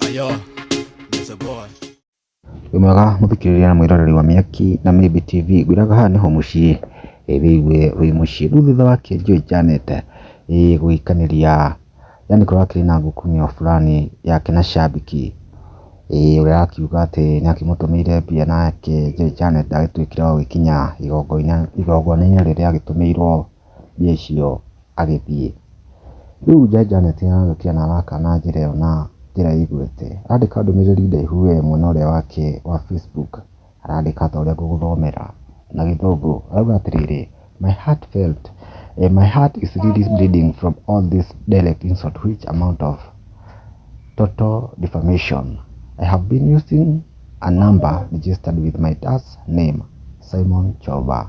Ayo, Mr. Boy. Wĩ mwega mũthikĩrĩria na mwĩroreri wa Mĩaki na Maybe TV ngwĩraga haha nĩho mũciĩ ĩ wĩigue wĩ mũciĩ rĩu thutha wa kĩenjio ĩjanĩte ĩ gũgĩkanĩria yani kũrakĩrĩ na ngukumio fulani yake na shabiki ĩ ũrĩa arakiuga atĩ nĩakĩmũtũmĩire mbia nake Joy Janet agĩtuĩkire wa gũgĩkinya igongona-inĩ rĩrĩa agĩtũmĩirwo mbia icio agĩthiĩ. Rĩu Jaji Janet nĩ ararũkia na araka na njĩra ĩyo na njĩra ĩgwete. Arandĩka ndũmĩrĩri ndaihu we mwena ũrĩa wake wa Facebook, arandĩka ta ũrĩa ngũgũthomera na gĩthũngũ. Arauga atĩrĩrĩ, My heart felt, my heart is really bleeding from all this direct insult which amount of total defamation. I have been using a number registered with my dad's name, Simon Choba.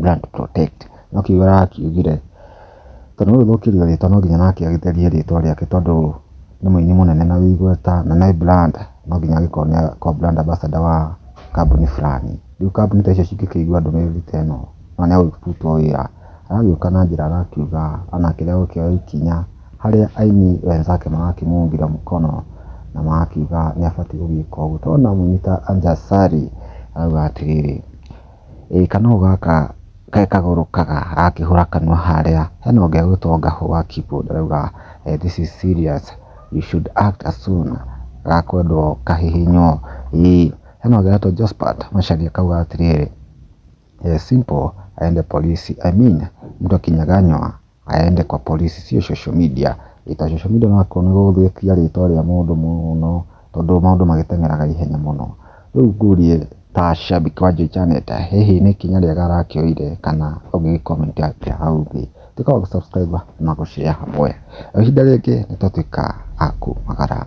brand protect no kiugo arakiugire tondũ nĩ gũthũkĩrio rĩtwa no nginya nake agĩtherie rĩtwa rĩake tondũ nĩ mũini mũnene na wĩ igweta na nĩ brand no nginya agĩkorwo nĩ akorwo brand ambassador wa kambuni fulani. Rĩu kambuni ta icio cingĩkĩigua ndũmĩrĩri ta ĩno mũndũ nĩ egũkĩrutwo wĩra. Aragĩũka na njĩra arakiuga ona kĩrĩa egũkĩoya ikinya harĩa aini wenzake marakĩmũnungĩra mũkono na magakiuga nĩ abatiĩ gũgĩka ũguo. Tũrona mũini ta Anja Sari arauga atĩrĩrĩ. Ĩĩ kanũgũ gaka ge kagũrũ kaga gakĩhũra kanua harĩa hena ũngĩ egwĩtwo Ngahũ wa keyboard arauga this is serious you should act as soon gakwendwo kahihinywo ii. Hena ũngĩ ũretwo Josphat Macharia akauga atĩrĩrĩ simple aende polisi I mean mũndũ akinya ganyua. aende kwa borici sio social media, rita social media nĩ ũrakora nĩ ũgũthũkia rĩtwa rĩa mũndũ mũno tondũ maũndũ magĩteng'eraga ihenya mũno. Rĩu ngũrie ta shabiki wa Joy Janet, hihi nĩ ikinya rĩega arakĩoire kana ũngĩ gĩ comment atĩa hau thĩ? Tuĩka wa gũ subscribe na gũ share hamwe. Ihinda rĩngĩ nĩ twatuĩka a kumagara.